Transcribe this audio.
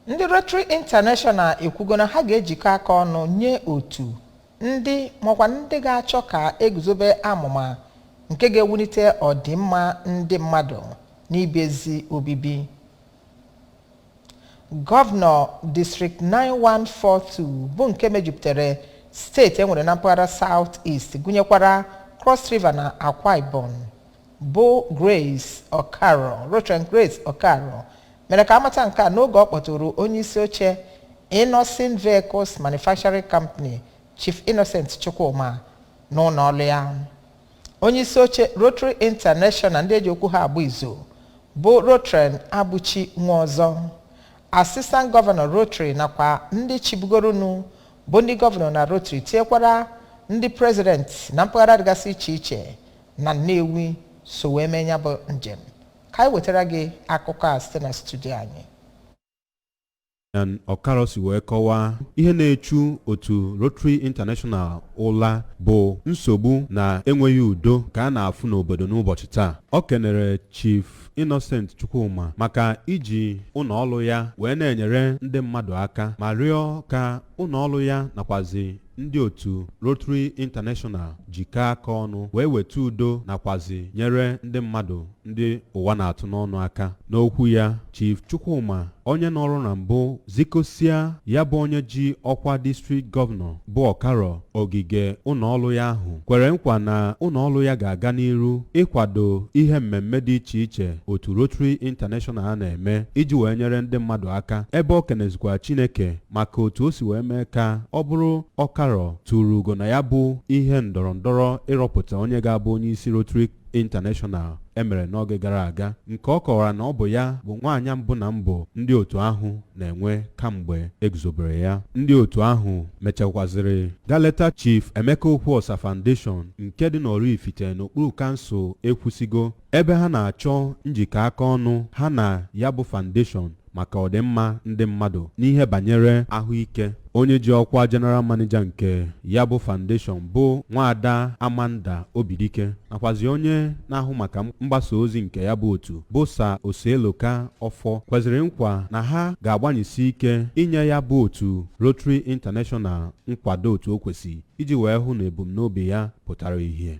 Ndị Rotary International ekwugo na ha ga-ejikọ aka ọnụ nye otu ndị makwa ndị ga-achọ ka eguzobe amụma nke ga-ewulite ọdịmma ndị mmadụ n'ibi ezi obibi. Gọvanọ District 9142 bụ nke mejupụtara steeti enwere na mpaghara South East gụnyekwara Cross River na Akwa Ibom bụ Grace Okaro Rotarian Grace Okaro mere ka amata nke a n'oge ọ kpọtụrụ onye isi oche Innoson Vehicles Manufacturing Company Chief Innocent Chukwuma n'ụnọ ọlụ ya onye isi oche Rotary International ndị eji okwu ha agba izu bụ Rotarian Abuchi Nwaọzọ Assistant Governor Rotary nakwa ndị chịbugoronụ bụ ndị gọvanọ na Rotary tinyekwara ndị president na mpaghara dịgasị iche iche na Nnewi so wee mee ya bụ njem ka anyị wetara gị akụkọ a site na studio anyị Okaro si wee kọwaa ihe na-echu otu Rotary International ụla bụ nsogbu na enweghị udo ka a na-afụ n'obodo n'ụbọchị taa o kenere Chief Innocent Chukwuma maka iji ụnọ ọlụ ya wee na-enyere ndị mmadụ aka ma rịọ ka ụnọ ọlụ ya nakwazi ndị otu Rotary International jikọọ aka ọnụ wee weta udo nakwazi nyere ndị mmadụ ndị ụwa na-atụ n'ọnụ aka n'okwu ya Chief Chukwuma onye nọrụ na mbụ zikosia ya bụ onye ji ọkwa district gọvanọ bụ Okaro ogige ụnọọlụ ya ahụ kwere nkwa na ụnọọlụ ya ga-aga n'iru ịkwado ihe mmemme dị iche iche otu Rotary International a na-eme iji wee nyere ndị mmadụ aka ebe o kenezikwara Chineke maka otu o si wee mee ka ọ bụrụ Okaro turu ugo na ya bụ ihe ndọrọ ndọrọ ịrọpụta onye ga-abụ onye isi Rotary International emere n'oge gara aga nke ọ kọwara na ọ bụ ya bụ nwaanyị mbụ na mbụ ndị otu ahụ na-enwe kamgbe eguzobere ya ndị otu ahụ mechakwaziri gaa leta Chief Emeka Okwuosa Foundation nke dị n'Oraifite n'okpuru kansụl Ekwusigo ebe ha na-achọ njikọ aka ọnụ ha na ya bụ foundation maka ọdịmma ndị mmadụ n'ihe banyere ahụike. Onye ji ọkwa General Manager nke ya bụ foundation bụ Nwaada Amanda Obidike nakwazi onye na-ahụ maka mgbasa ozi nke ya bụ otu bụ Sir Oseloka Ọfọ kweziri nkwa na ha ga-agbanyesi ike inye ya bụ otu Rotary International nkwado otu o kwesị iji wee hụ na ebumnobi ya pụtara ihe.